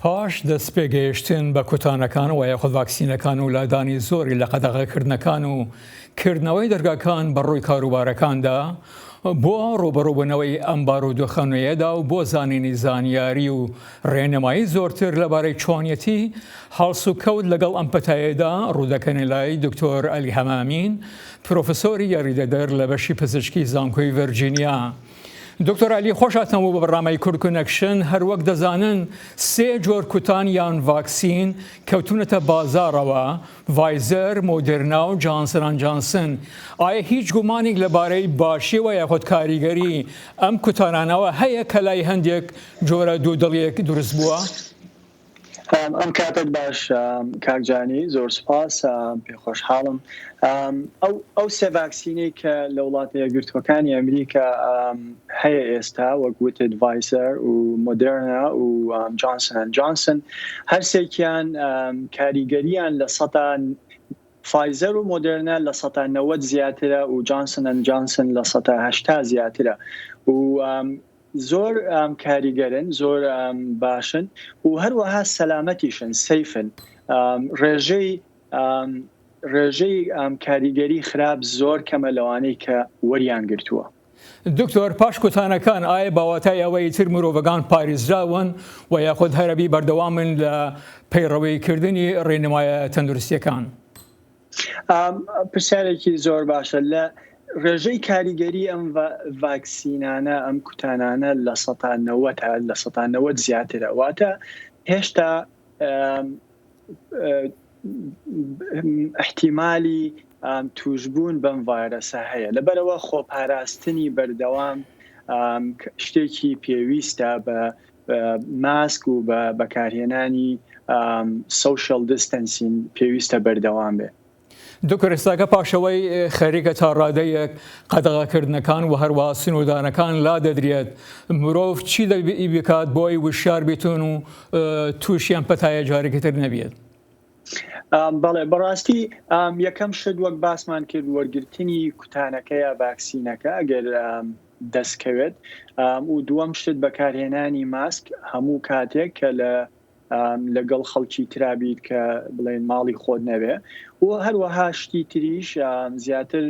پاش دەستپێگەیشتن بە کوتانەکان وە یاخود ڤاکسینەکان و لادانی زۆری لە قەدەغەکردنەکان و کردنەوەی دەرگاکان بە ڕووی کاروبارەکاندا بۆ ڕووبەڕووبوونەوەی ئەم بارودۆخە نوێیەدا و بۆ زانینی زانیاری و ڕێنمایی زۆرتر لەبارەی چۆنیەتی هەڵسوکەوت لەگەڵ ئەم پەتایەدا ڕوودەکەنە لای دکتۆر ئەلی هەمامین پرۆفسۆری یاریدەدەر لە بەشی پزیشکی زانکۆی ڤەرجینیا دکتۆر عەلی خۆشهاتنە بۆ بەڕامای کورد کونەکشن، هەروەک دەزانن سێ جۆر کوتان یان ڤاکسین کەوتونەتە بازاڕەوە، ڤایزەر، مۆدێرنا و جانسن ئەند جانسن، ئایا هیچ گومانێک لەبارەی باشی و یاخود کاریگەری ئەم کوتانانەوە هەیە کەلای هەندێک جۆرە دوودڵیەک دروست بووە؟ ئەم کاتەت باش کاک جانی زۆر سوپاس پێ خۆشحاڵم ئەو ئەو سێ ڤاکسینەی کە لە وڵاتە یەکگرتووەکانی ئەمریکا هەیە ئێستا وەک وتت ڤایسەر و مۆدرنا و جانسن جانسن هەرسێکیان کاریگەریان لە سەدا فایزەر و مۆدرنا لە سەدا نەوەت زیاترە و جانسن جانسن لە سەدا هەشتا زیاترە و زۆر کاریگەرن زۆر باشن و هەروەها سەلامەتیشن سەیفن ڕێژەی ڕێژەی کاریگەری خراپ زۆر کەمە لەوانەی کە وەریان گرتووە. دکتۆر پاش کوتانەکان ئایە بەواتای ئەوە ئیتر مرۆڤەکان پاریزراون و یاخود هەرەبی بەردەوامن لە پەیڕەوی کردنی ڕێنمایە تەندروستیەکان؟ پرسیارێکی زۆر باشە لە ڕێژەی کاریگەری ئەم ڤاکسینانە ئەم کوتانانە لە سەتا نەوەت لە سەتا نەوەت زیاترە واتە هێشتا احتیممالی توشببوون بەم ڤایرەسە هەیە لەبەرەوە خۆپاراستنی بەردەوام شتێکی پێویستە بە ماسک و بە بەکارهێنانی سۆشیال دیستەنسین پێویستە بەردەوام بێ. دوکرێساکە پاشەوەی خەریکە تا ڕادەیەک قەدەغەکردنەکان و هەروە سنوودانەکان لادەدرێت مرۆڤ چی دەبی بکات بۆی وشار بیتون و تووشیان پەتایە جارێکی تر نەبێت. بەڵێ بەڕاستی یەکەم شت وەک باسمان کرد وەرگرتنی کوتانەکە یا ڤاکسینەکە ئەگەر دەستکەوێت و دووەم شت بەکارهێنانی ماسک هەموو کاتێک کە لە لەگەڵ خەڵکی ترابیت کە بڵێن ماڵی خۆت نەوێ و هەروەها شتی تریش زیاتر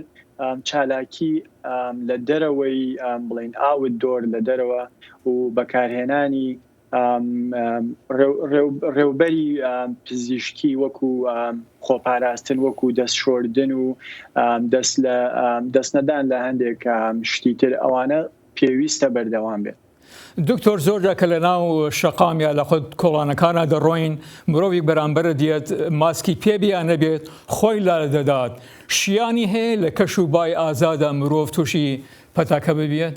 چالاکی لە دەرەوەی بڵین ئاوت دۆر لە دەرەوە و بەکارهێنانی ڕێوبەری پزیشکی وەکو خۆپاراستن وەکو دەست شۆردن و دەست لە دەست نەدان لە هەندێک شتی تر ئەوانە پێویستە بەردەوام بێت. دکتۆر زۆر جار کە لە ناو شەقام یا لە خود کۆڵانەکانا دەڕۆین مرۆڤیک بەرامبەرت یەت ماسکی پێ بێ یان نەبێت خۆی لا دەدات شیانی هەیە لە کەش و بای ئازادا مرۆڤ تووشی پەتاکە ببیەت؟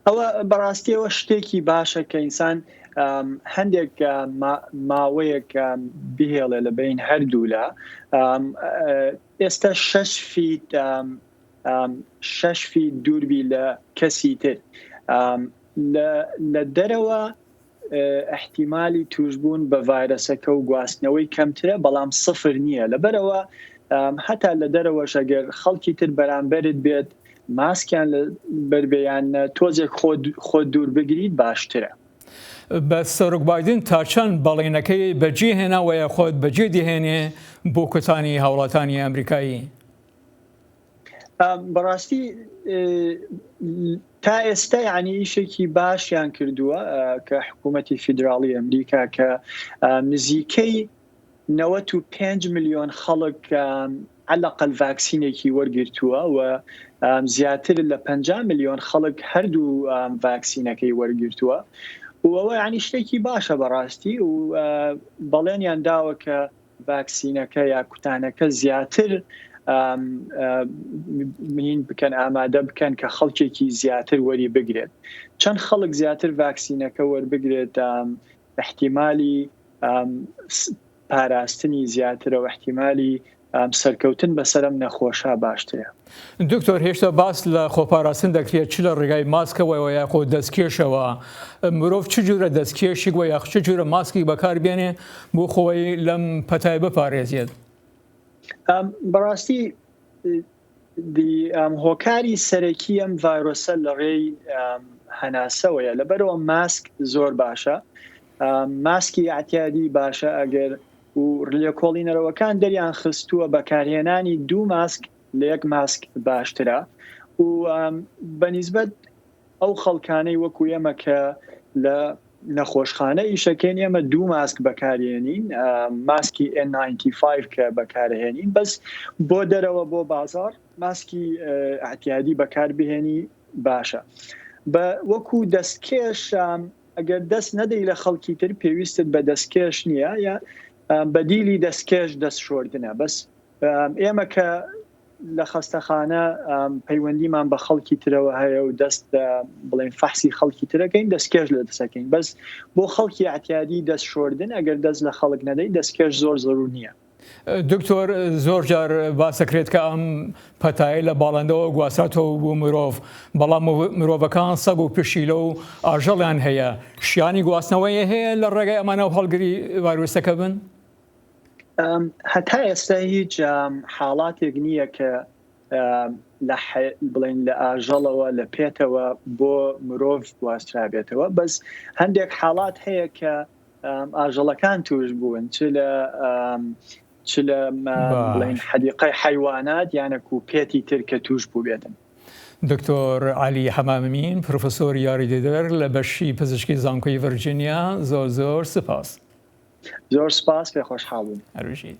ئەوە بەڕاستیەوە شتێکی باشە کە ئینسان هەندێک ماوەیەک بهێڵێ لە بین هەردوولا ئێستا شش فیت شش فیت دووربی لە کەسی تر لە دەرەوە ئیحتیمالی تووشبوون بە ڤایرەسەکە و گواستنەوەی کەمترە، بەڵام سفر نییە، لەبەرئەوە هەتا لە دەرەوەش ئەگەر خەڵکی تر بەرامبەرت بێت ماسکیان لە بەر بێ یان نە، تۆزێک خۆت دوور بگریت باشترە. بەس سەرۆک بایدن تا چەند بەڵێنەکەی بە جێ هێنا وە یاخود بە جێ دەهێنێ بۆ کوتانی هاوڵاتانی ئەمریکایی؟ بەڕاستی تا ئێستا یعنی ئیشێکی باشیان کردووە کە حکوومەتتی فیدراڵی ئەمریکا کە نزیکەی 95 میلیۆن خەڵک عەلقەل ڤاکسینێکی وەرگرتووە و زیاتر لە 50 میلیۆن خەڵک هەردوو ڤاکسینەکەی وەرگرتووە وەوە ینی شتێکی باشە بەڕاستی و بەڵێنیان داوە کە ڤاکسینەکە یا کوتانەکە زیاتر مین بکەن ئامادە بکەن کە خەڵکێکی زیاتر وەری بگرێت چەند خەڵک زیاتر ڤاکسینەکە وەربگرێت احتیممالی پاراستنی زیاترە و احتیممالی سەرکەوتن بەسەرم نەخۆشە باشترە. دکتۆر هێشتا باس لە خۆپاراستن دەکرێت چ لە ڕێگای ماسکەوەەوە یاخۆ دەستکێشەوە مرۆڤ چ جورە دەستکێشی وە یاخ چ جورە ماسکی بەکاربێنێ بۆ خۆی لەم پەتای بپارێزێت بەڕاستی هۆکاری سەرەکی ئەم ڤایرۆسە لە ڕێی هەناسەوەیە لەبەرەوە ماسک زۆر باشە ماسکی ئاتیادی باشە ئەگەر و لێکۆڵینەرەوەکان دەریان خستووە بەکارهێنانی دوو ماسک لە یەک ماسک باشترە و بە نیسبەت ئەو خەڵکانەی وەکو ئێمە کە لە نەخۆشخانە ئیشەکەین ئێمە دوو ماسک بەکارێنین ماسکی N95 کە بەکارهێنین بەس بۆ دەرەوە بۆ بازار ماسکی ئاعتیادی بەکار بهێنی باشە بە وەکو دەستکێش ئەگەر دەست نەدەی لە خەڵکی تر پێویستت بە دەستکێش نییە یا بەدیلی دەستکێش دەست شۆردنە بەس ئێمە کە لە خەستەخانە پەیوەندیمان بە خەڵکی ترەوە هەیە و دەست بڵێن فەحسی خەڵکی ترەکەین دەستکێش لە دەسەکەین بەس بۆ خەڵکی عتیادی دەست شۆردن ئەگەر دەست لە خەڵک نەدەی دەستکێش زۆر زەرو نییە دکتۆر زۆر جار باسەکرێت کە ئەم پەتایە لە باڵندەوە گواستاتەوە بۆ مرۆڤ بەڵام مرۆڤەکان سەگ و پشیلە و ئاژەڵیان هەیە شیانی گواستنەوەی هەیە لە ڕێگەی ئەمانە و هەڵگری ڤایرۆسەکە بن؟ هەتا ئێستا هیچ حاڵاتێک نییە کە بڵێن لە ئاژەڵەوە لە پێتەوە بۆ مرۆڤ گواسترابێتەوە بەس هەندێک حاڵات هەیە کە ئاژەڵەکان توش بوون چ لە چ لە بڵین حەدیقای حیوانات یانە کو پێتی تر کە توش بوو بێتن دکتۆر علی حەمامین پرۆفسۆر یاریدەدەر لە بەشی پزیشکی زانکۆی ڤرجینیا زۆر زۆر سپاس زۆر سپاس پێ خۆشحاڵون هەروژیت